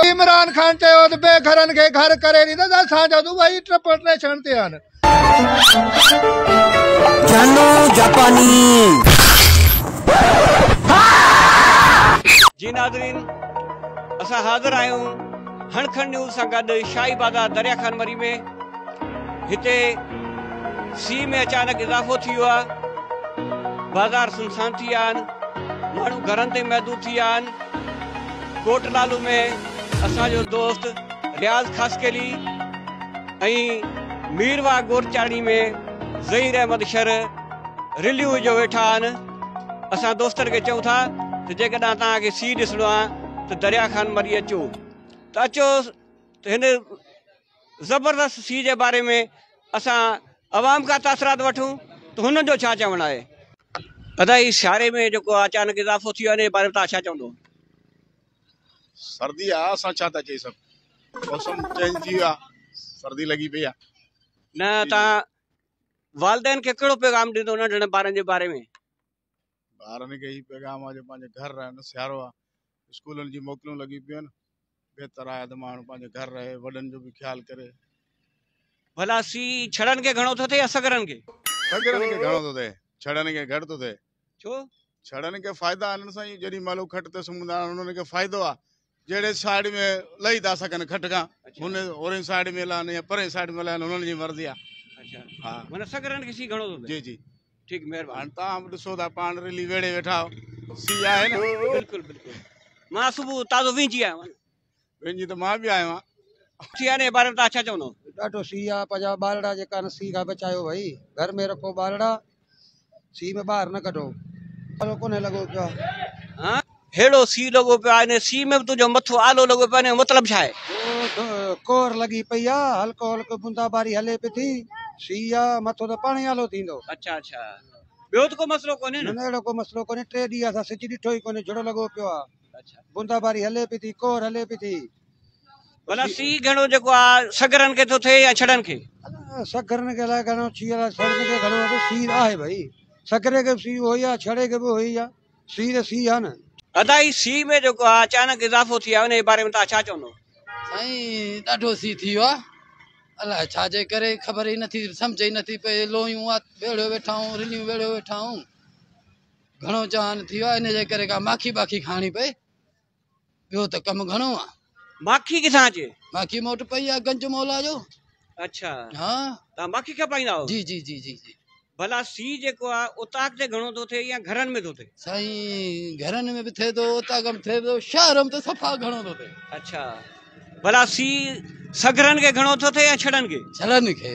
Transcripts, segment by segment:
عمران خان چيو ته بي گهرن کي گهر ڪري ڏيندس اسان جا دبئي ٽرپرٽيشن تي آهن جانو جاپاني جي ناظرين اسان حاضر آهيون هڻ کڻ نيوز سان گڏ شاهي بازار دريا خان مري ۾ هتي سي ۾ اچانڪ اضافو ٿي ويو آهي بازار سنسان ٿي ويا آهن ماڻهو گهرن تي محدود ٿي ويا آهن ڪوٽ لالو ۾ اسان جو دوست رياض خاصخيلي ۽ مير واهه ڳوٺ چاڙهي ۾ ظهير احمد شر رليون وجهيو ويٺا آهن اسان دوستن کي چئون ٿا ته جيڪڏهن توهان کي سي ڏسڻو آهي ته دريا خان مري اچو ته اچو ته هن زبردست سي جي باري ۾ اسان عوام کان تاثرات وٺون ته هنن جو ڇا چوڻ آهي؟ ادا هي سياري ۾ جيڪو اچانڪ اضافو ٿي ويو آهي ان جي باري ۾ توهان ڇا چوندو؟ سردي آ اسان ڇا ٿا چئي سگهون موسم چينج ٿي ويو آ سردي لڳي پئي آ. نه توهان والدين کي ڪهڙو پيغام ڏيندو ننڍڙن ٻارن جي باري ۾؟ ٻارن کي هي پيغام آهي جو پنهنجي گهر رهن سيارو آهي اسڪولن جي موڪلون لڳي پيون آهن بهتر آهي ته ماڻهو پنهنجي گهر رهي وڏن جو به خيال ڪري ڀلا سي ڇڙن کي گهڻو ٿو ٿئي يا سگرن کي سگرن کي گهڻو ٿو ٿئي ڇڙن کي گهٽ ٿو ٿئي ڇو ڇڙن کي فائدا آهن سائين جڏي مالو کٽ تي سمندا آهن انهن کي فائدو آهي جهڙي سائيڊ ۾ لهي ٿا سگهن کٽ کان هن اورين سائيڊ ۾ لهن يا پرين سائيڊ ۾ لهن هنن جي مرضي آ اچا ها منا سگرن کي سي گهڻو ٿو جي جي ٺيڪ مهربان تان به ڏسو ٿا پاڻ رلي ويڙي ويٺا سي آهي نه بلڪل بلڪل مان صبح تازو وينجي آيو آهيان وينجي ته مان به آيو آهيان سي آهي باري ۾ تان ڇا چوندو ڏاڍو سي آ پنهنجا ٻارڙا جيڪا سي کان بچايو ڀئي گهر ۾ رکو ٻارڙا سيء ۾ ٻاهر نه ڪڍو، آلو ڪونه لڳو پيو آ. هيڙو سيء لڳو پيو آ، انهيء سيء ۾ به تنهنجو مٿو آلو لڳو پيو آ، انهيء جو مطلب ڇا آهي؟ ڪور لڳي پئي آ، هلڪو هلڪو بونداباري هلي پئي ٿي، سيء آ، مٿو ته پاڻهي آلو ٿيندو. اڇا اڇا، ٻيو ته ڪو مسئلو ڪونهي نه؟ نه نه، اهڙو ڪو مسئلو ڪونهي، ٽي ڏينهن اسان سج ڏٺو ئي ڪونهي، جھڙو لڳو پيو آ. بوندا باري هلي پي ٿي ڪور هلي پي ٿي. بلا سي گهڻو جيڪو آ سگرن کي ٿو ٿئي يا ڇڙن کي سگرن کي لاء گهڻو ڇي لاء ڇڙن کي گهڻو آ سي آهي ڀئي سگري کي سي هو يا ڇڙي کي به هو يا سي ته سي آ نه ادا هي سي ۾ جيڪو آ اچانڪ اضافو ٿي آ ان جي باري ۾ تان ڇا چوندو سائين ڏاڍو سي ٿي ويو آ الاء ڇا جي ڪري خبر ئي نٿي سمجهه ئي نٿي پئي لويون آ ويڙهيو ويٺا آهون رليون ويڙهيو ويٺا آهون گهڻو چوان ٿي ويو آهي ان جي ڪري ڪا ماکي باکي کائڻي پئي ٻيو ته ڪم گهڻو آهي ماکي ڪٿان اچي ماکي مون وٽ پئي آهي گنج مولا جو اچا ها تان ماکي کپائيندا آهو جي جي جي جي جي ڀلا سي جيڪو آهي اتاق تي گهڻو ٿو ٿئي يا گهرن ۾ ٿو ٿئي سائين گهرن ۾ به ٿئي ٿو اتاق ۾ ٿئي ٿو شهر ۾ ته صفا گهڻو ٿو ٿئي اچا ڀلا سي سگرن کي گهڻو ٿو ٿئي يا ڇڙن کي ڇڙن کي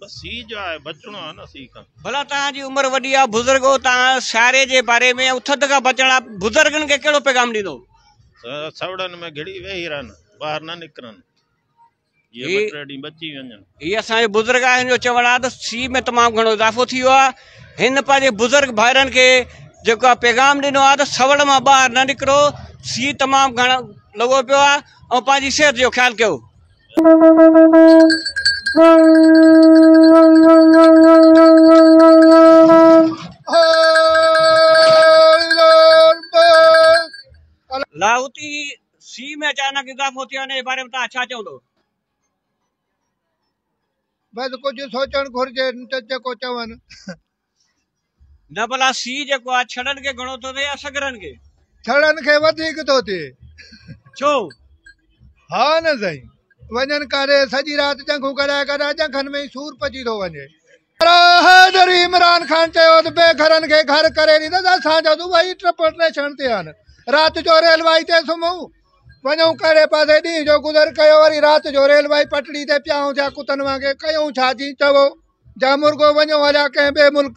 بس هي جا آهي بچڻو آهي نه سي کان بلا تان جي عمر وڏي آ بزرگ او تان ساري جي باري ۾ او ٿڌ کا بچڻا بزرگن کي کيڙو پيغام ڏيندو سوڙن ۾ گھڙي ويهي رهن باهر نه نڪرن جي بٽري ڏي بچي وڃن هي اسان جي بزرگ آهن جو چوڻ آ ته سي ۾ تمام گھڻو اضافو ٿي ويو آ هن پنهنجي بزرگ ڀائرن کي جيڪو پيغام ڏنو آ ته سوڙ مان باهر نه نڪرو سي تمام گھڻو لڳو پيو آ او پنهنجي صحت جو خيال ڪيو لاهوتي سيء ۾ اچانڪ اضافو ٿيو انهيء باري ۾ توهان ڇا چوندو؟ بس ڪجهه سوچڻ گهرجي ته جيڪو چون. نه ڀلا سي جيڪو آ ڇڙن کي گهڻو ٿو ٿئي يا سگرن کي؟ ڇڙن کي وڌيڪ ٿو ٿئي. ڇو؟ ها نه سائين. وڃن ڪاري سڄي رات ڄنگهون ڪرائي ڪرائي ڄنگهن ۾ ئي سور پچي ٿو وڃي. حيدري عمران خان چيو ته بي گهرن کي گهر ڪري ڏيندس، اسان جا دبئي ٽرپل ٽيشن تي آهن، رات جو ريلوائي تي سمهون، وڃون ڪهڙي پاسي ڏينهن جو گذر ڪيو وري رات جو ريلوائي پٽڙي تي پيا آهيون ٿيا ڪتن وانگي ڪيون ڇا جي چئو جا مرغو وڃو هليا ڪنهن ٻئي ملڪ